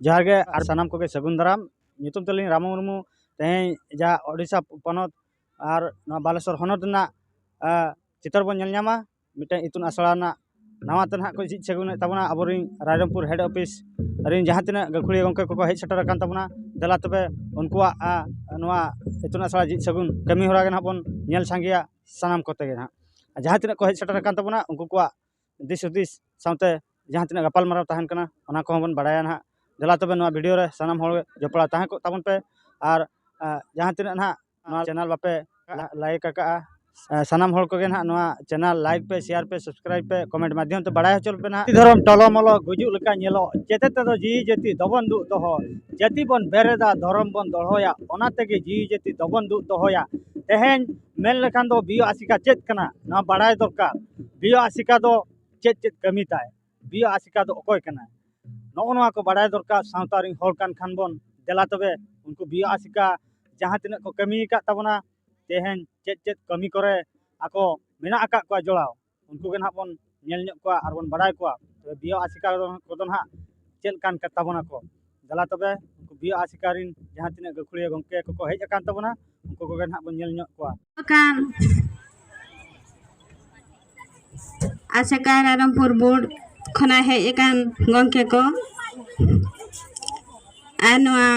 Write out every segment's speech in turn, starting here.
ᱡᱚᱦᱟᱨ ᱜᱮ ᱟᱨ ᱥᱟᱱᱟᱢ ᱠᱚᱜᱮ ᱥᱟᱹᱜᱩᱱ ᱫᱟᱨᱟᱢ ᱧᱩᱛᱩᱢ ᱛᱟᱹᱞᱤᱧ ᱨᱟᱢᱚ ᱢᱩᱨᱢᱩ ᱛᱮᱦᱮᱧ ᱡᱟᱦᱟᱸ ᱳᱰᱤᱥᱟ ᱯᱚᱱᱚᱛ ᱟᱨ ᱱᱚᱣᱟ ᱵᱟᱞᱮᱥᱚᱨ ᱦᱚᱱᱚᱛ ᱨᱮᱱᱟᱜ ᱪᱤᱛᱟᱹᱨ ᱵᱚᱱ ᱧᱮᱞ ᱧᱟᱢᱟ ᱢᱤᱫᱴᱮᱱ ᱤᱛᱩᱱ ᱟᱥᱲᱟ ᱨᱮᱱᱟᱜ ᱱᱟᱣᱟ ᱛᱮ ᱱᱟᱦᱟᱜ ᱠᱚ ᱡᱷᱤᱡ ᱥᱟᱹᱜᱩᱱᱮᱫ ᱛᱟᱵᱚᱱᱟ ᱟᱵᱚᱨᱮᱱ ᱨᱟᱭᱨᱚᱝᱯᱩᱨ ᱦᱮᱰ ᱚᱯᱷᱤᱥ ᱨᱮᱱ ᱡᱟᱦᱟᱸ ᱛᱤᱱᱟᱹᱜ ᱜᱟᱹᱠᱷᱩᱲᱤᱭᱟᱹ ᱜᱚᱢᱠᱮ ᱠᱚᱠᱚ ᱦᱮᱡ ᱥᱮᱴᱮᱨ ᱟᱠᱟᱱ ᱛᱟᱵᱚᱱᱟ ᱫᱮᱞᱟ ᱛᱚᱵᱮ ᱩᱱᱠᱩᱣᱟᱜ ᱱᱚᱣᱟ ᱤᱛᱩᱱ ᱟᱥᱲᱟ ᱡᱷᱤᱡ ᱥᱟᱹᱜᱩᱱ ᱠᱟᱹᱢᱤ ᱦᱚᱨᱟ ᱜᱮ ᱱᱟᱦᱟᱜ ᱵᱚᱱ ᱧᱮᱞ ᱥᱟᱸᱜᱮᱭᱟ ᱥᱟᱱᱟᱢ ᱠᱚᱛᱮ ᱜᱮ ᱱᱟᱦᱟᱜ ᱡᱟᱦᱟᱸ ᱛᱤᱱᱟᱹᱜ ᱠᱚ ᱦᱮᱡ ᱥᱮᱴᱮᱨ ᱟᱠᱟᱱ ᱛᱟᱵᱚᱱᱟ ᱩᱱᱠᱩ ᱠᱚᱣᱟᱜ ᱫᱤᱥ ᱦᱩᱫᱤᱥ ᱥᱟᱶᱛᱮ ᱡᱟᱦᱟᱸ ᱛᱤᱱᱟᱹᱜ ᱜᱟᱯᱟᱞᱢᱟᱨᱟᱣ ᱛᱟᱦᱮᱱ ᱠᱟᱱᱟ ᱚᱱᱟ ᱠᱚᱦᱚᱸ ᱵᱚᱱ ᱵᱟᱲᱟᱭᱟ ᱱᱟᱦᱟᱜ ᱫᱮᱞᱟ ᱛᱚᱵᱮ ᱱᱚᱣᱟ ᱵᱷᱤᱰᱤᱭᱳ ᱨᱮ ᱥᱟᱱᱟᱢ ᱦᱚᱲ ᱡᱚᱯᱲᱟᱣ ᱛᱟᱦᱮᱸ ᱠᱚᱜ ᱛᱟᱵᱚᱱ ᱯᱮ ᱟᱨ ᱡᱟᱦᱟᱸ ᱛᱤᱱᱟᱹᱜ ᱱᱟᱦᱟᱜ ᱱᱚᱣᱟ ᱪᱮᱱᱮᱞ ᱵᱟᱯᱮ ᱞᱟᱭᱤᱠ ᱟᱠᱟᱜᱼᱟ ᱥᱟᱱᱟᱢ ᱦᱚᱲ ᱠᱚᱜᱮ ᱱᱟᱦᱟᱜ ᱱᱚᱣᱟ ᱪᱮᱱᱮᱞ ᱞᱟᱭᱤᱠ ᱯᱮ ᱥᱮᱭᱟᱨ ᱯᱮ ᱥᱟᱵᱥᱠᱨᱟᱭᱤᱵ ᱯᱮ ᱠᱚᱢᱮᱱᱴ ᱢᱟᱫᱽᱫᱷᱚᱢ ᱛᱮ ᱵᱟᱲᱟᱭ ᱦᱚᱪᱚ ᱞᱮᱯᱮ ᱱᱟᱦᱟᱜ ᱫᱷᱚᱨᱚᱢ ᱴᱚᱞᱚᱢᱚᱞᱚ ᱜᱩᱡᱩᱜ ᱞᱮᱠᱟ ᱧᱮᱞᱚᱜ ᱡᱮᱛᱮ ᱛᱮᱫᱚ ᱡᱤᱣᱤ ᱡᱟᱹᱛᱤ ᱫᱚᱵᱚᱱ ᱫᱩᱜ ᱫᱚᱦᱚ ᱡᱟᱹᱛᱤ ᱵᱚᱱ ᱵᱮᱨᱮᱫᱟ ᱫᱷᱚᱨᱚᱢ ᱵᱚᱱ ᱫᱚᱦᱚᱭᱟ ᱚᱱᱟ ᱛᱮᱜᱮ ᱡᱤᱣᱤ ᱡᱟᱹᱛᱤ ᱫᱚᱵᱚᱱ ᱫᱩᱜ ᱫᱚᱦᱚᱭᱟ ᱛᱮᱦᱮᱧ ᱢᱮᱱ ᱞᱮᱠᱷᱟᱱ ᱫᱚ ᱵᱤᱭᱳ ᱟᱥᱮᱠᱟ ᱪᱮᱫ ᱠᱟᱱᱟ ᱱᱚᱣᱟ ᱵᱟᱲᱟᱭ ᱫᱚᱨᱠᱟᱨ ᱵᱤᱭᱳ ᱟᱥᱮᱠᱟ ᱫᱚ ᱪᱮᱫ ᱪᱮᱫ ᱠᱟᱹᱢᱤ ᱛᱟᱭ ᱵᱤᱭᱳ ᱟᱥᱮᱠᱟ ᱫᱚ ᱚᱠᱚᱭ ᱠᱟᱱᱟᱭ ᱱᱚᱜᱼᱚ ᱱᱚᱣᱟ ᱠᱚ ᱵᱟᱲᱟᱭ ᱫᱚᱨᱠᱟᱨ ᱥᱟᱶᱛᱟ ᱨᱮᱱ ᱦᱚᱲ ᱠᱟᱱ ᱠᱷᱟᱱ ᱵᱚᱱ ᱫᱮᱞᱟ ᱛᱚᱵᱮ ᱩᱱᱠᱩ ᱵᱤᱭᱳ ᱟᱥᱮᱠᱟ ᱡᱟᱦᱟᱸ ᱛᱤᱱᱟᱹᱜ ᱠᱚ ᱠᱟᱹᱢᱤ ᱟᱠᱟᱫ ᱛᱟᱵᱚᱱᱟ ᱛᱮᱦᱮᱧ ᱪᱮᱫ ᱪᱮᱫ ᱠᱟᱹᱢᱤ ᱠᱚᱨᱮ ᱟᱠᱚ ᱢᱮᱱᱟᱜ ᱟᱠᱟᱫ ᱠᱚᱣᱟ ᱡᱚᱲᱟᱣ ᱩᱱᱠᱩ ᱜᱮ ᱱᱟᱦᱟᱜ ᱵᱚᱱ ᱧᱮᱞ ᱧᱚᱜ ᱠᱚᱣᱟ ᱟᱨ ᱵᱚᱱ ᱵᱟᱲᱟᱭ ᱠᱚᱣᱟ ᱛᱚᱵᱮ ᱵᱤᱭᱳ ᱟᱥᱮᱠᱟ ᱠᱚᱫᱚ ᱱᱟᱦᱟᱜ ᱪᱮᱫ ᱞᱮᱠᱟᱱ ᱠᱟᱱ ᱛᱟᱵᱚᱱᱟ ᱠᱚ ᱫᱮᱞᱟ ᱛᱚᱵᱮ ᱩᱱᱠᱩ ᱵᱤᱭᱳ ᱟᱥᱮᱠᱟ ᱨᱮᱱ ᱡᱟᱦᱟᱸ ᱛᱤᱱᱟᱹᱜ ᱜᱟᱹᱠᱷᱩᱲᱤᱭᱟᱹ ᱜᱚᱢᱠᱮ ᱠᱚᱠᱚ ᱦᱮᱡ ᱟᱠᱟᱱ ᱛᱟᱵᱚᱱᱟ ᱩᱱᱠᱩ ᱠᱚᱜᱮ ᱱᱟᱦᱟᱜ ᱵᱚᱱ ᱧᱮᱞ ᱧᱚᱜ ᱠᱚᱣᱟ ᱠᱟᱱ ᱟᱥᱮᱠᱟ ᱨᱟᱭᱨᱚᱝᱯᱩᱨ ᱵᱳᱨᱰ ᱠᱷᱚᱱᱟᱜ ᱦᱮᱡ ᱟᱠᱟᱱ ᱜᱚᱢᱠᱮ ᱠᱚ ᱟᱨ ᱱᱚᱣᱟ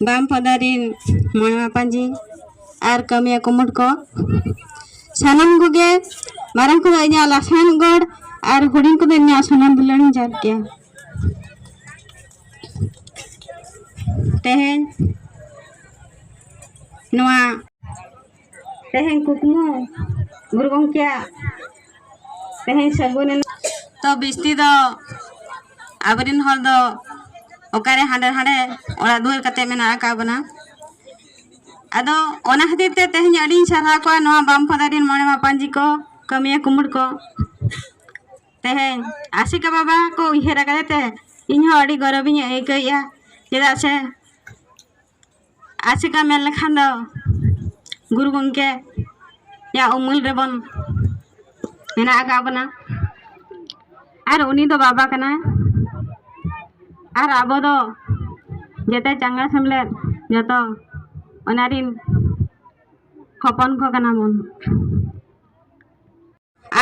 ᱵᱟᱢ ᱯᱟᱫᱟ ᱨᱤᱱ ᱢᱚᱬᱮ ᱢᱟᱯᱟᱧᱡᱤ ᱟᱨ ᱠᱟᱹᱢᱤᱭᱟ ᱠᱩᱢᱩᱴ ᱠᱚ ᱥᱟᱱᱟᱢ ᱠᱚᱜᱮ ᱢᱟᱨᱟᱝ ᱠᱚᱫᱚ ᱤᱧᱟᱹᱜ ᱞᱟᱥᱟᱱ ᱜᱚᱲ ᱟᱨ ᱦᱩᱰᱤᱧ ᱠᱚᱫᱚ ᱤᱧᱟᱹᱜ ᱥᱟᱱᱟᱢ ᱫᱩᱞᱟᱹᱲ ᱤᱧ ᱡᱟᱦᱟᱸ ᱠᱮᱭᱟ ᱛᱮᱦᱮᱧ ᱱᱚᱣᱟ ᱛᱮᱦᱮᱧ ᱠᱩᱠᱢᱩ ᱜᱩᱨᱩ ᱜᱚᱢᱠᱮᱭᱟᱜ ᱛᱮᱦᱮᱧ ᱥᱟᱹᱜᱩᱱ ᱮᱱᱟ ᱛᱚ ᱵᱤᱥᱛᱤ ᱫᱚ ᱟᱵᱚᱨᱮᱱ ᱦᱚᱲ ᱫᱚ ᱚᱠᱟᱨᱮ ᱦᱟᱸᱰᱮ ᱦᱟᱸᱰᱮ ᱚᱲᱟᱜ ᱫᱩᱣᱟᱹᱨ ᱠᱟᱛᱮ ᱢᱮᱱᱟᱜ ᱟᱠᱟᱫ ᱵᱚᱱᱟ ᱟᱫᱚ ᱚᱱᱟ ᱠᱷᱟᱹᱛᱤᱨ ᱛᱮ ᱛᱮᱦᱮᱧ ᱟᱹᱰᱤᱧ ᱥᱟᱨᱦᱟᱣ ᱠᱚᱣᱟ ᱱᱚᱣᱟ ᱵᱟᱢᱯᱟᱫᱟ ᱨᱮᱱ ᱢᱚᱬᱮ ᱢᱟᱯᱟᱧᱡᱤ ᱠᱚ ᱠᱟᱹᱢᱤᱭᱟᱹ ᱠᱩᱢᱩᱲ ᱠᱚ ᱛᱮᱦᱮᱧ ᱟᱥᱤᱠᱟ ᱵᱟᱵᱟ ᱠᱚ ᱩᱭᱦᱟᱹᱨ ᱟᱠᱟᱫᱮ ᱛᱮ ᱤᱧᱦᱚᱸ ᱟᱹᱰᱤ ᱜᱚᱨᱚᱵᱤᱧ ᱟᱹᱭᱠᱟᱹᱣᱮᱫᱼᱟ ᱪᱮᱫᱟᱜ ᱥᱮ ᱟᱥᱮᱠᱟ ᱢᱮᱱ ᱞᱮᱠᱷᱟᱱ ᱫᱚ ᱜᱩᱨᱩ ᱜᱚᱢᱠᱮ ᱭᱟᱜ ᱩᱢᱩᱞ ᱨᱮᱵᱚᱱ ᱢᱮᱱᱟᱜ ᱟᱠᱟᱫ ᱵᱚᱱᱟ ᱟᱨ ᱩᱱᱤ ᱫᱚ ᱵᱟᱵᱟ ᱠᱟᱱᱟᱭ ᱟᱨ ᱟᱵᱚ ᱫᱚ ᱡᱮᱛᱮ ᱪᱟᱸᱜᱟ ᱥᱮᱢᱞᱮᱫ ᱡᱚᱛᱚ ᱚᱱᱟ ᱨᱤᱱ ᱦᱚᱯᱚᱱ ᱠᱚ ᱠᱟᱱᱟ ᱵᱚᱱ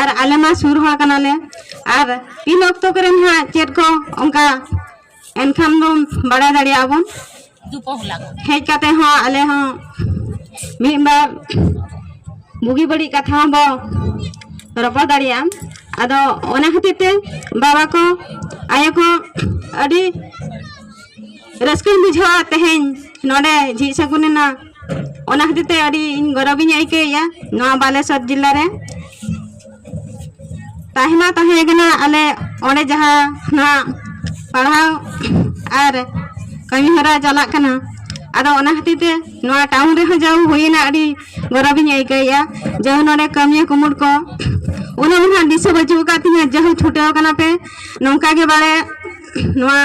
ᱟᱨ ᱟᱞᱮ ᱢᱟ ᱥᱩᱨ ᱦᱚᱲ ᱠᱟᱱᱟᱞᱮ ᱟᱨ ᱛᱤᱱ ᱚᱠᱛᱚ ᱠᱚᱨᱮ ᱱᱟᱦᱟᱜ ᱪᱮᱫ ᱠᱚ ᱚᱱᱠᱟ ᱮᱱᱠᱷᱟᱱ ᱫᱚ ᱵᱟᱲᱟᱭ ᱫᱟᱲᱮᱭᱟᱜ ᱟᱵᱚᱱ ᱦᱮᱡ ᱠᱟᱛᱮ ᱦᱚᱸ ᱟᱞᱮ ᱦᱚᱸ ᱢᱤᱫ ᱵᱟᱨ ᱵᱩᱜᱤ ᱵᱟᱹᱲᱤᱡ ᱠᱟᱛᱷᱟ ᱦᱚᱸ ᱵᱚ ᱨᱚᱯᱚᱲ ᱫᱟᱲᱮᱭᱟᱜᱼᱟ ᱟᱫᱚ ᱚᱱᱟ ᱠᱷᱟᱹᱛᱤᱨ ᱛᱮ ᱵᱟᱵᱟ ᱠᱚ ᱟᱭᱳ ᱠᱚ ᱟᱹᱰᱤ ᱨᱟᱹᱥᱠᱟᱹᱧ ᱵᱩᱡᱷᱟᱹᱣᱟ ᱛᱮᱦᱮᱧ ᱱᱚᱰᱮ ᱡᱷᱤᱡ ᱥᱟᱹᱜᱩᱱ ᱮᱱᱟ ᱚᱱᱟ ᱠᱷᱟᱹᱛᱤᱨ ᱛᱮ ᱟᱹᱰᱤ ᱤᱧ ᱜᱚᱨᱚᱵᱤᱧ ᱟᱹᱭᱠᱟᱹᱣᱮᱫᱼᱟ ᱱᱚᱣᱟ ᱵᱟᱞᱮᱥᱚᱨ ᱡᱮᱞᱟ ᱨᱮ ᱛᱟᱦᱮᱸ ᱢᱟ ᱛᱟᱦᱮᱸ ᱠᱟᱱᱟ ᱟᱞᱮ ᱚᱸᱰᱮ ᱡᱟᱦᱟᱸ ᱱᱚᱣᱟ ᱯᱟᱲᱦᱟᱣ ᱟᱨ ᱠᱟᱹᱢᱤ ᱦᱚᱨᱟ ᱪᱟᱞᱟᱜ ᱠᱟᱱᱟ ᱟᱫᱚ ᱚᱱᱟ ᱠᱷᱟᱹᱛᱤᱨ ᱛᱮ ᱱᱚᱣᱟ ᱴᱟᱣᱩᱱ ᱨᱮᱦᱚᱸ ᱡᱟᱣ ᱦᱩᱭᱮᱱᱟ ᱟᱹᱰᱤ ᱜᱚᱨᱚᱵᱤᱧ ᱟᱹᱭᱠᱟᱹᱣᱮᱫᱼᱟ ᱡᱟᱣ ᱱᱚᱰᱮ ᱠᱟᱹᱢᱤᱭᱟᱹ ᱠᱩᱢᱩᱴ ᱠᱚ ᱩᱱᱟᱹᱜ ᱢᱟ ᱦᱟᱸᱜ ᱫᱤᱥᱟᱹ ᱵᱟᱹᱪᱩᱜ ᱟᱠᱟᱫ ᱛᱤᱧᱟᱹ ᱡᱟᱦᱳ ᱪᱷᱩᱴᱟᱹᱣ ᱠᱟᱱᱟ ᱯᱮ ᱱᱚᱝᱠᱟ ᱜᱮ ᱵᱟᱲᱮ ᱱᱚᱣᱟ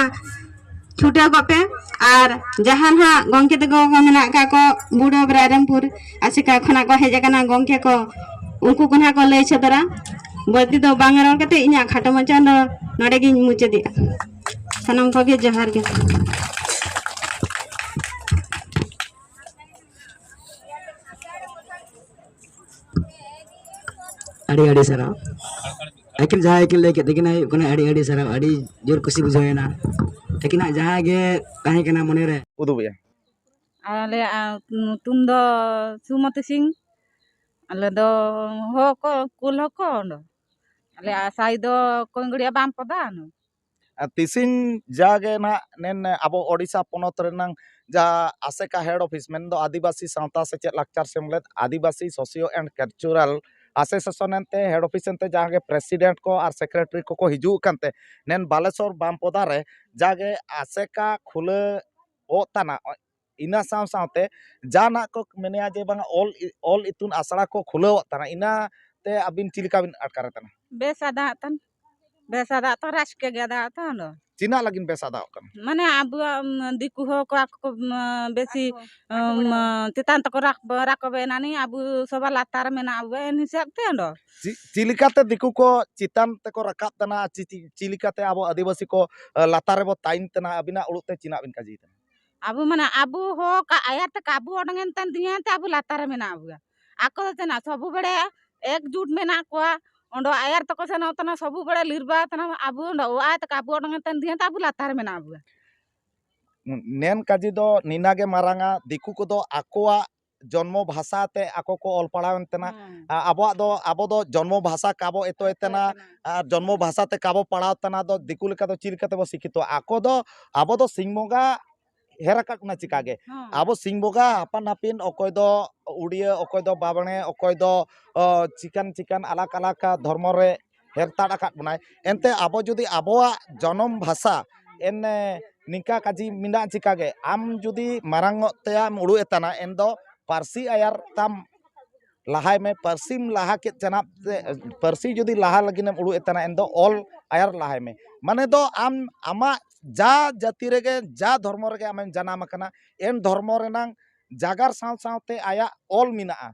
ᱪᱷᱩᱴᱟᱹᱣ ᱠᱚᱜ ᱯᱮ ᱟᱨ ᱡᱟᱦᱟᱸ ᱱᱟᱦᱟᱜ ᱜᱚᱢᱠᱮ ᱛᱟᱠᱚ ᱠᱚ ᱢᱮᱱᱟᱜ ᱠᱟᱜ ᱠᱚ ᱵᱩᱰᱷᱟᱹ ᱨᱟᱭᱨᱚᱝᱯᱩᱨ ᱟᱥᱮᱠᱟ ᱠᱷᱚᱱᱟᱜ ᱠᱚ ᱦᱮᱡ ᱟᱠᱟᱱᱟ ᱜᱚᱢᱠᱮ ᱠᱚ ᱩᱱᱠᱩ ᱠᱚ ᱱᱟᱦᱟᱜ ᱠᱚ ᱞᱟᱹᱭ ᱥᱚᱫᱚᱨᱟ ᱵᱟᱹᱲᱛᱤ ᱫᱚ ᱵᱟᱝ ᱨᱚᱲ ᱠᱟᱛᱮ ᱤᱧᱟᱹᱜ ᱠᱷᱟᱴᱚ ᱢᱟᱪᱷᱟ ᱫᱚ ᱱᱚᱰᱮ ᱜᱤᱧ ᱢᱩᱪᱟᱹᱫᱮᱜᱼᱟ ᱥᱟᱱᱟᱢ ᱠᱚᱜᱮ ᱡᱚᱦᱟᱨ ᱜᱮ ᱟᱹᱰᱤ ᱟᱹᱰᱤ ᱥᱟᱨᱦᱟᱣ ᱟᱹᱠᱤᱱ ᱡᱟᱦᱟᱸᱭ ᱠᱤᱱ ᱞᱟᱹᱭ ᱠᱮᱫ ᱛᱟᱹᱠᱤᱱᱟ ᱦᱩᱭᱩᱜ ᱠᱟᱱᱟ ᱟᱹᱰᱤ ᱟᱹᱰᱤ ᱥᱟᱨᱦᱟᱣ ᱟᱹᱰᱤ ᱡᱳᱨ ᱠᱩᱥᱤ ᱵᱩᱡᱷᱟᱹᱣᱮᱱᱟ ᱛᱟᱹᱠᱤᱱᱟᱜ ᱡᱟᱦᱟᱸ ᱜᱮ ᱛᱟᱦᱮᱸ ᱠᱟᱱᱟ ᱢᱚᱱᱮᱨᱮ ᱩᱫᱩᱜᱮᱜᱼᱟ ᱟᱞᱮᱭᱟᱜ ᱧᱩᱛᱩᱢ ᱫᱚ ᱥᱩᱢᱚᱛᱤ ᱥᱤᱝ ᱟᱞᱮ ᱫᱚ ᱦᱚᱸ ᱠᱚ ᱠᱩᱞ ᱦᱚᱸ ᱠᱚ ᱟᱞᱮᱭᱟᱜ ᱥᱟᱭ ᱫᱚ ᱠᱚᱝᱜᱲᱤᱭᱟ ᱵᱟᱢ ᱯᱚᱫᱟ ᱟᱨ ᱛᱤᱥᱤᱝ ᱡᱟᱜᱮ ᱱᱟᱜ ᱱᱮᱱ ᱟᱵᱚ ᱳᱰᱤᱥᱟ ᱯᱚᱱᱚᱛ ᱨᱮᱱᱟᱝ ᱡᱟ ᱟᱥᱮᱠᱟ ᱦᱮᱰ ᱚᱯᱷᱤᱥ ᱢᱮᱱ ᱫᱚ ᱟᱹᱫᱤᱵᱟᱹᱥᱤ ᱥᱟᱶᱛᱟ ᱥᱮᱪᱮᱫ ᱞᱟᱠᱪᱟᱨ ᱥᱮᱢᱞᱮᱫ ᱟᱹᱫᱤᱵᱟᱹᱥᱤ ᱥᱳᱥᱤᱭᱳ ᱮᱱᱰ ᱠᱟᱞᱪᱩᱨᱟᱞ ᱟᱥᱮᱥᱮᱥᱚᱱ ᱮᱱᱛᱮ ᱦᱮᱰ ᱚᱯᱷᱤᱥ ᱮᱱᱛᱮ ᱡᱟᱦᱟᱸ ᱜᱮ ᱯᱨᱮᱥᱤᱰᱮᱱᱴ ᱠᱚ ᱟᱨ ᱥᱮᱠᱨᱮᱴᱨᱤ ᱠᱚᱠᱚ ᱦᱤᱡᱩᱜ ᱠᱟᱱᱛᱮ ᱱᱮᱱ ᱵᱟᱞᱮᱥᱚᱨ ᱵᱟᱢᱯᱚᱫᱟ ᱨᱮ ᱡᱟᱜᱮ ᱟᱥᱮᱠᱟ ᱠᱷᱩᱞᱟᱹ ᱚᱜ ᱛᱟᱱᱟᱜ ᱤᱱᱟᱹ ᱥᱟᱶ ᱥᱟᱶᱛᱮ ᱡᱟᱦᱟᱱᱟᱜ ᱠᱚ ᱢᱮᱱᱮᱜᱼᱟ ᱡᱮ ᱵᱟᱝᱟ ᱚᱞ ᱚᱞ ᱤᱛᱩᱱ ᱟᱥᱲᱟ ᱠᱚ ᱠᱷᱩᱞᱟᱹᱣᱟᱜ ᱠᱟᱱᱟ ᱤᱱᱟᱹ ᱛᱮ ᱟᱹᱵᱤᱱ ᱪᱮᱫ ᱞᱮᱠᱟ ᱵᱤᱱ ᱟᱴᱠᱟᱨᱮᱫ ᱠᱟᱱᱟ ᱵᱮᱥ ᱟᱫᱟᱜ ᱛᱟᱱ ᱵᱮᱥ ᱟᱫᱟᱜ ᱛᱟᱱ ᱨᱟᱹᱥᱠᱟᱹ ᱜᱮ ᱟᱫᱟᱜ ᱛᱟᱱ ᱫᱚ ᱛᱤᱱᱟᱹᱜ ᱞᱟᱹᱜᱤᱫ ᱵᱮᱥ ᱟᱫᱟᱜ ᱠᱟᱱᱟ ᱢᱟᱱᱮ ᱟᱵᱚᱣᱟᱜ ᱫᱤᱠᱩ ᱦᱚᱲ ᱠᱚ ᱟᱠᱚ ᱠᱚ ᱵᱮᱥᱤ ᱪᱮᱛᱟᱱ ᱛᱮᱠᱚ ᱨᱟᱠᱟᱵᱮ ᱮᱱᱟᱱᱤ ᱟᱵᱚ ᱥᱚᱵᱟ ᱞᱟᱛᱟᱨ ᱨᱮ ᱢᱮᱱᱟᱜ ᱵᱚ ᱮᱱ ᱦᱤᱥᱟᱹᱵ ᱛᱮ ᱫᱚ ᱪᱮᱫ ᱞᱮᱠᱟᱛᱮ ᱫᱤᱠᱩ ᱠᱚ ᱪᱮᱛᱟᱱ ᱛᱮᱠᱚ ᱨᱟᱠᱟᱵ ᱠᱟᱱᱟ ᱪᱮᱫ ᱞᱮᱠᱟᱛᱮ ᱟᱵᱚ ᱟᱹᱫᱤᱵᱟᱹᱥᱤ ᱠᱚ ᱞᱟᱛᱟᱨ ᱨᱮᱵᱚ ᱛᱟᱦᱮᱱ ᱠᱟᱱᱟ ᱟᱹᱵᱤᱱᱟᱜ ᱚᱲᱟᱜ ᱛᱮ ᱪᱮᱫᱟᱜ ᱵᱤᱱ ᱠᱟᱹᱢᱤᱭᱮᱫᱟ ᱟᱵᱚ ᱢᱟᱱᱮ ᱟᱵᱚ ᱦᱚᱸ ᱟᱭᱟᱨ ᱛᱮ ᱠᱟᱵᱩ ᱚᱰᱚᱝ ᱮᱱ ᱛᱟᱢ ᱫᱤᱭᱟᱹ ᱛᱮ ᱟᱵᱚ ᱞᱟᱛᱟᱨ ᱨᱮ ᱢᱮᱱᱟᱜ ᱵᱚᱱᱟ ᱟᱠᱚ ᱫᱚ ᱛᱟᱦᱮᱱᱟ ᱥᱚᱵᱩ ᱵᱮᱲᱮ ᱮᱠᱡᱩᱴ ᱢᱮᱱᱟᱜ ᱠᱚᱣᱟ ᱚᱸᱰᱮ ᱟᱭᱟᱨ ᱛᱟᱠᱚ ᱥᱮᱱᱚᱜ ᱛᱟᱦᱮᱱᱟ ᱥᱚᱵᱩ ᱵᱮᱲᱮ ᱞᱤᱨᱵᱟ ᱛᱟᱦᱮᱱᱟ ᱟᱵᱚ ᱚᱸᱰᱮ ᱚ ᱟᱭ ᱛᱮ ᱠᱟᱵᱩ ᱚᱰᱚᱝ ᱮᱱ ᱛᱟᱢ ᱫᱤᱭᱟᱹ ᱛᱮ ᱟᱵᱚ ᱞᱟᱛᱟᱨ ᱨᱮ ᱢᱮᱱᱟᱜ ᱵᱚᱱᱟ ᱱᱮᱱ ᱠᱟᱡᱤ ᱫᱚ ᱱᱤᱱᱟᱜᱮ ᱢᱟᱨᱟᱝᱟ ᱫᱤᱠᱩ ᱠᱚᱫᱚ ᱟᱠᱚᱣᱟᱜ ᱡᱚᱱᱢᱚ ᱵᱷᱟᱥᱟ ᱛᱮ ᱟᱠᱚ ᱠᱚ ᱚᱞ ᱯᱟᱲᱦᱟᱣᱮᱱ ᱛᱮᱱᱟ ᱟᱵᱚᱣᱟᱜ ᱫᱚ ᱟᱵᱚ ᱫᱚ ᱡᱚᱱᱢᱚ ᱵᱷᱟᱥᱟ ᱠᱟᱵᱚ ᱮᱛᱚᱭ ᱛᱮᱱᱟ ᱟᱨ ᱡᱚᱱᱢᱚ ᱵᱷᱟᱥᱟ ᱛᱮ ᱠᱟᱵᱚ ᱯᱟᱲᱦᱟᱣ ᱛᱮᱱᱟ ᱫᱚ ᱫᱤᱠᱩ ᱞᱮᱠᱟ ᱫᱚ ᱪᱮᱫ ᱞᱮᱠᱟ ᱛᱮᱵᱚ ᱥᱤᱠᱷᱤᱛᱚᱜᱼᱟ ᱟᱠᱚ ᱫᱚ ᱟᱵᱚ ᱫᱚ ᱥᱤᱧ ᱵᱚᱸᱜᱟ ᱦᱮᱨ ᱟᱠᱟᱫ ᱵᱚᱱᱟ ᱪᱤᱠᱟᱜᱮ ᱟᱵᱚ ᱥᱤᱧ ᱵᱚᱸᱜᱟ ᱟᱯᱟᱱ ᱟᱹᱯᱤᱱ ᱚᱠᱚᱭ ᱫᱚ ᱩᱰᱤᱭᱟᱹ ᱚᱠᱚᱭ ᱫᱚ ᱵᱟᱢᱬᱮ ᱚᱠᱚᱭ ᱫᱚ ᱪᱤᱠᱟᱱ ᱪᱤᱠᱟᱱ ᱟᱞᱟᱠ ᱟᱞᱟᱠ ᱫᱷᱚᱨᱢᱚ ᱨᱮ ᱦᱮᱨᱛᱟᱲ ᱟᱠᱟᱫ ᱵᱚᱱᱟᱭ ᱮᱱᱛᱮ ᱟᱵᱚ ᱡᱩᱫᱤ ᱟᱵᱚᱣᱟᱜ ᱡᱚᱱᱚᱢ ᱵᱷᱟᱥᱟ ᱮᱱ ᱱᱤᱝᱠᱟ ᱠᱟᱡᱤ ᱢᱮᱱᱟᱜ ᱪᱤᱠᱟᱹᱜᱮ ᱟᱢ ᱡᱩᱫᱤ ᱢᱟᱨᱟᱝᱚᱜ ᱛᱮᱭᱟᱢ ᱩᱲᱩᱜ ᱮᱛᱟᱱᱟ ᱮᱱ ᱫᱚ ᱯᱟᱹᱨᱥᱤ ᱟᱭᱟᱨ ᱛᱟᱢ ᱞᱟᱦᱟᱭ ᱢᱮ ᱯᱟᱹᱨᱥᱤᱢ ᱞᱟᱦᱟ ᱠᱮᱫ ᱪᱟᱱᱟᱜ ᱛᱮ ᱯᱟᱹᱨᱥᱤ ᱡᱩᱫᱤ ᱞᱟᱦᱟ ᱞᱟᱹᱜᱤᱫᱮᱢ ᱩᱲᱩᱜ ᱮᱛᱟᱱᱟ ᱮᱱ ᱫᱚ ᱚᱞ ᱟᱭᱟᱨ ᱞᱟᱦᱟᱭ ᱢᱮ ᱢᱟᱱᱮ ᱫᱚ ᱟᱢ ᱟᱢᱟᱜ ᱡᱟ ᱡᱟᱹᱛᱤ ᱨᱮᱜᱮ ᱡᱟ ᱫᱷᱚᱨᱢᱚ ᱨᱮᱜᱮ ᱟᱢᱮᱢ ᱡᱟᱱᱟᱢ ᱟᱠᱟᱱᱟ ᱮᱱ ᱫᱷᱚᱨᱢᱚ ᱨᱮᱱᱟᱝ ᱡᱟᱜᱟᱨ ᱥᱟᱶ ᱥᱟᱶᱛᱮ ᱟᱭᱟᱜ ᱚᱞ ᱢᱮᱱᱟᱜᱼᱟ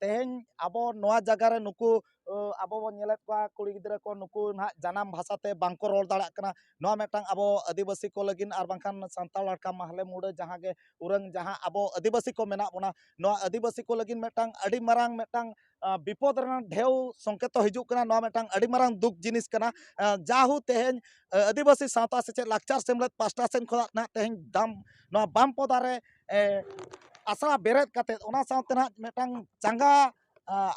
ᱛᱮᱦᱮᱧ ᱟᱵᱚ ᱱᱚᱣᱟ ᱡᱟᱭᱜᱟ ᱨᱮ ᱱᱩᱠᱩ ᱟᱵᱚ ᱵᱚᱱ ᱧᱮᱞᱮᱫ ᱠᱚᱣᱟ ᱠᱩᱲᱤ ᱜᱤᱫᱽᱨᱟᱹ ᱠᱚ ᱱᱩᱠᱩ ᱱᱟᱦᱟᱜ ᱡᱟᱱᱟᱢ ᱵᱷᱟᱥᱟ ᱛᱮ ᱵᱟᱝ ᱠᱚ ᱨᱚᱲ ᱫᱟᱲᱮᱭᱟᱜ ᱠᱟᱱᱟ ᱱᱚᱣᱟ ᱢᱤᱫᱴᱟᱝ ᱟᱵᱚ ᱟᱹᱫᱤᱵᱟᱹᱥᱤ ᱠᱚ ᱞᱟᱹᱜᱤᱫ ᱟᱨ ᱵᱟᱝᱠᱷᱟᱱ ᱥᱟᱱᱛᱟᱲ ᱦᱚᱲ ᱠᱷᱟᱱ ᱢᱟᱦᱞᱮ ᱢᱩᱬᱟᱹ ᱡᱟᱦᱟᱸ ᱜᱮ ᱩᱨᱟᱹᱝ ᱡᱟᱦᱟᱸ ᱟᱵᱚ ᱟᱹᱫᱤᱵᱟᱹᱥᱤ ᱠᱚ ᱢᱮᱱᱟᱜ ᱵᱚᱱᱟ ᱱᱚᱣᱟ ᱟᱹᱫᱤᱵᱟᱹᱥᱤ ᱠᱚ ᱞᱟᱹᱜᱤᱫ ᱢᱤᱫᱴᱟᱝ ᱟᱹᱰᱤ ᱢᱟᱨᱟᱝ ᱢᱤᱫᱴᱟᱝ ᱵᱤᱯᱚᱫ ᱨᱮᱱᱟᱜ ᱰᱷᱮᱣ ᱥᱚᱝᱠᱮᱛᱚ ᱦᱤᱡᱩᱜ ᱠᱟᱱᱟ ᱱᱚᱣᱟ ᱢᱤᱫᱴᱟᱝ ᱟᱹᱰᱤ ᱢᱟᱨᱟᱝ ᱫᱩᱠ ᱡᱤᱱᱤᱥ ᱠᱟᱱᱟ ᱡᱟᱦᱳ ᱛᱮᱦᱮᱧ ᱟᱹᱫᱤᱵᱟᱹᱥᱤ ᱥᱟᱶᱛᱟ ᱥᱮᱪᱮᱫ ᱞᱟᱠᱪᱟᱨ ᱥᱮᱢᱞᱮᱫ ᱯᱟᱥᱴᱟ ᱥᱮᱱ ᱠᱷᱚᱱᱟᱜ ᱱᱟᱦᱟᱜ ᱛᱮᱦᱮᱧ ᱫᱟᱢ ᱱᱚᱣᱟ ᱵᱟᱢ ᱯᱚᱫᱟᱨᱮ ᱟᱥᱲᱟ ᱵᱮᱨᱮᱫ ᱠᱟᱛᱮ ᱚᱱᱟ ᱥᱟᱶᱛᱮ ᱱᱟᱦᱟᱜ ᱢᱤᱫᱴᱟᱝ ᱪᱟᱸᱜᱟ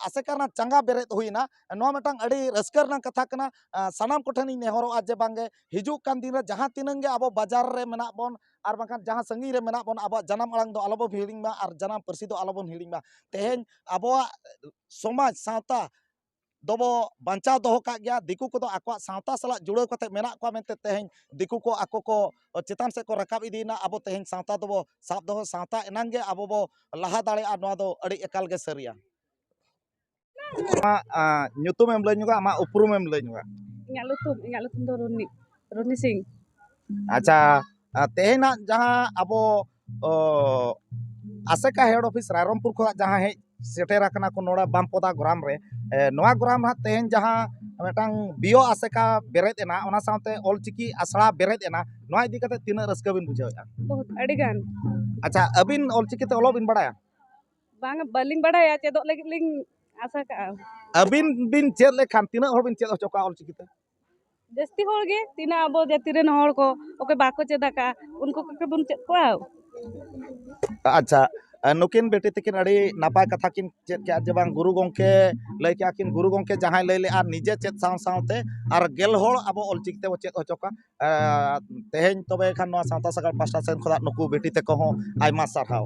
ᱟᱥᱮᱠᱟ ᱨᱮᱱᱟᱜ ᱪᱟᱸᱜᱟ ᱵᱮᱨᱮᱫ ᱦᱩᱭᱱᱟ ᱱᱚᱣᱟ ᱢᱤᱫᱴᱟᱝ ᱟᱹᱰᱤ ᱨᱟᱹᱥᱠᱟᱹ ᱨᱮᱱᱟᱜ ᱠᱟᱛᱷᱟ ᱠᱟᱱᱟ ᱥᱟᱱᱟᱢ ᱠᱚᱴᱷᱮᱱᱤᱧ ᱱᱮᱦᱚᱨᱚᱜᱼᱟ ᱡᱮ ᱵᱟᱝᱜᱮ ᱦᱤᱡᱩᱜ ᱠᱟᱱ ᱫᱤᱱ ᱨᱮ ᱡᱟᱦᱟᱸ ᱛᱤᱱᱟᱹᱝ ᱜᱮ ᱟᱵᱚ ᱵᱟᱡᱟᱨ ᱨᱮ ᱢᱮᱱᱟᱜ ᱵᱚᱱ ᱟᱨ ᱵᱟᱝᱠᱷᱟᱱ ᱡᱟᱦᱟᱸ ᱥᱟᱺᱜᱤᱧ ᱨᱮ ᱢᱮᱱᱟᱜ ᱵᱚᱱ ᱟᱵᱚᱣᱟᱜ ᱡᱟᱱᱟᱢ ᱟᱲᱟᱝ ᱫᱚ ᱟᱞᱚᱵᱚᱱ ᱦᱤᱲᱤᱧ ᱢᱟ ᱟᱨ ᱡᱟᱱᱟᱢ ᱯᱟᱹᱨᱥᱤ ᱫᱚ ᱟᱞᱚᱵᱚᱱ ᱦᱤᱲᱤᱧ ᱢᱟ ᱛᱮᱦᱮᱧ ᱟᱵᱚᱣᱟᱜ ᱥᱚᱢᱟᱡᱽ ᱥᱟᱶᱛᱟ ᱫᱚᱵᱚ ᱵᱟᱧᱪᱟᱣ ᱫᱚᱦᱚ ᱠᱟᱜ ᱜᱮᱭᱟ ᱫᱤᱠᱩ ᱠᱚᱫᱚ ᱟᱠᱚᱣᱟᱜ ᱥᱟᱶᱛᱟ ᱥᱟᱞᱟᱜ ᱡᱩᱲᱟᱹᱣ ᱠᱟᱛᱮ ᱢᱮᱱᱟᱜ ᱠᱚᱣᱟ ᱢᱮᱱᱛᱮ ᱛᱮᱦᱮᱧ ᱫᱤᱠᱩ ᱠᱚ ᱟᱠᱚ ᱠᱚ ᱪᱮᱛᱟᱱ ᱥᱮᱫ ᱠᱚ ᱨᱟᱠᱟᱵ ᱤᱫᱤᱭᱮᱱᱟ ᱟᱵᱚ ᱛᱮᱦᱮᱧ ᱥᱟᱶᱛᱟ ᱫᱚᱵᱚ ᱥᱟᱵ ᱫᱚᱦᱚ ᱥᱟᱶᱛᱟ ᱮᱱᱟᱝ ᱜᱮ ᱟᱵᱚ ᱵᱚ ᱞᱟᱦᱟ ᱫᱟᱲᱮᱭᱟᱜᱼᱟ ᱱᱚᱣᱟ ᱫᱚ ᱟᱹᱰᱤ ᱮᱠᱟᱞ ᱜᱮ ᱥᱟᱹᱨᱤᱭᱟ ᱟᱢᱟᱜ ᱧᱩᱛᱩᱢᱮᱢ ᱞᱟᱹᱭ ᱧᱚᱜᱟ ᱟᱢᱟᱜ ᱩᱯᱨᱩᱢᱮᱢ ᱞᱟᱹᱭ ᱧᱚᱜᱟ ᱤᱧᱟᱹᱜ ᱧᱩᱛᱩᱢ ᱤᱧᱟᱹᱜ ᱧᱩᱛᱩᱢ ᱫᱚ ᱨᱩᱱᱦᱤ ᱨᱩᱱᱦᱤ ᱥᱤᱝ ᱟᱪᱪᱷᱟ ᱛᱮᱦᱮᱧᱟᱜ ᱡᱟᱦᱟᱸ ᱟᱵᱚ ᱟᱥᱮᱠᱟ ᱦᱮᱰ ᱚᱯᱷᱤᱥ ᱨᱟᱭᱨᱚᱝᱯᱩᱨ ᱠᱷᱚᱱᱟᱜ ᱡᱟᱦᱟᱸ ᱦᱮᱡ ᱥᱮᱴᱮᱨ ᱟᱠᱟᱱᱟ ᱠᱚ ᱱᱚᱰᱮ ᱵᱟᱢᱯᱚᱫᱟ ᱜᱨᱟᱢ ᱨᱮ ᱱᱚᱣᱟ ᱜᱨᱟᱢ ᱦᱟᱸᱜ ᱛᱮᱦᱮᱧ ᱡᱟᱦᱟᱸ ᱢᱤᱫᱴᱟᱝ ᱵᱤᱭᱳ ᱟᱥᱮᱠᱟ ᱵᱮᱨᱮᱫ ᱮᱱᱟ ᱚᱱᱟ ᱥᱟᱶᱛᱮ ᱚᱞᱪᱤᱠᱤ ᱟᱥᱲᱟ ᱵᱮᱨᱮᱫ ᱮᱱᱟ ᱱᱚᱣᱟ ᱤᱫᱤ ᱠᱟᱛᱮ ᱛᱤᱱᱟᱹᱜ ᱨᱟᱹᱥᱠᱟᱹ ᱵᱤᱱ ᱵᱩᱡᱷᱟᱹᱣᱮᱫᱼᱟ ᱵᱚᱦᱩᱛ ᱟᱹᱰᱤ ᱜᱟᱱ ᱟᱪᱪᱷᱟ ᱟᱹᱵᱤᱱ ᱚᱞᱪᱤᱠᱤ ᱛᱮ ᱚᱞᱚᱜ ᱵᱤᱱ ᱵᱟᱲᱟᱭᱟ ᱵᱟᱝ ᱵᱟᱹᱞᱤᱧ ᱵᱟᱲᱟᱭᱟ ᱪᱮᱫᱚᱜ ᱞᱟᱹᱜᱤᱫ ᱞᱤᱧ ᱟᱥᱟ ᱠᱟᱜᱼᱟ ᱟᱹᱵᱤᱱ ᱵᱤᱱ ᱪᱮᱫ ᱞᱮᱠᱷᱟᱱ ᱛᱤᱱᱟᱹᱜ ᱦᱚᱲ ᱵᱤᱱ ᱪᱮᱫ ᱦᱚᱪᱚ ᱠᱚᱣᱟ ᱚᱞᱪᱤᱠᱤ ᱛᱮ ᱡᱟᱹᱥᱛᱤ ᱦᱚᱲ ᱜᱮ ᱛᱤᱱᱟᱹᱜ ᱟᱵᱚ ᱡᱟᱹᱛᱤ ᱨᱮᱱ ᱦᱚᱲ ᱠᱚ ᱚᱠᱚᱭ ᱵᱟᱠᱚ ᱪᱮᱫ ᱟᱠᱟᱫᱼᱟ ᱩᱱᱠᱩ ᱠᱚᱜᱮ ᱵᱚᱱ ᱪᱮᱫ ᱠᱚᱣᱟ ᱟᱪᱪᱷᱟ ᱟᱨ ᱱᱩᱠᱤᱱ ᱵᱤᱴᱤ ᱛᱟᱹᱠᱤᱱ ᱟᱹᱰᱤ ᱱᱟᱯᱟᱭ ᱠᱟᱛᱷᱟ ᱠᱤᱱ ᱪᱮᱫ ᱠᱮᱜᱼᱟ ᱡᱮ ᱵᱟᱝ ᱜᱩᱨᱩ ᱜᱚᱢᱠᱮ ᱞᱟᱹᱭ ᱠᱮᱜᱼᱟ ᱠᱤᱱ ᱜᱩᱨᱩ ᱜᱚᱢᱠᱮ ᱡᱟᱦᱟᱸᱭ ᱞᱟᱹᱭ ᱞᱮᱜᱼᱟ ᱱᱤᱡᱮ ᱪᱮᱫ ᱥᱟᱶ ᱥᱟᱶᱛᱮ ᱟᱨ ᱜᱮᱞ ᱦᱚᱲ ᱟᱵᱚ ᱚᱞ ᱪᱤᱠᱤ ᱛᱮᱵᱚ ᱪᱮᱫ ᱦᱚᱪᱚ ᱠᱚᱣᱟ ᱛᱮᱦᱮᱧ ᱛᱚᱵᱮ ᱠᱷᱟᱱ ᱱᱚᱣᱟ ᱥᱟᱶᱛᱟ ᱥᱟᱜᱟᱲ ᱯᱟᱥᱴᱟ ᱥᱮᱫ ᱠᱷᱚᱱᱟᱜ ᱱᱩᱠᱩ ᱵᱤᱴᱤ ᱛᱟᱠᱚ ᱦᱚᱸ ᱟᱭᱢᱟ ᱥᱟᱨᱦᱟᱣ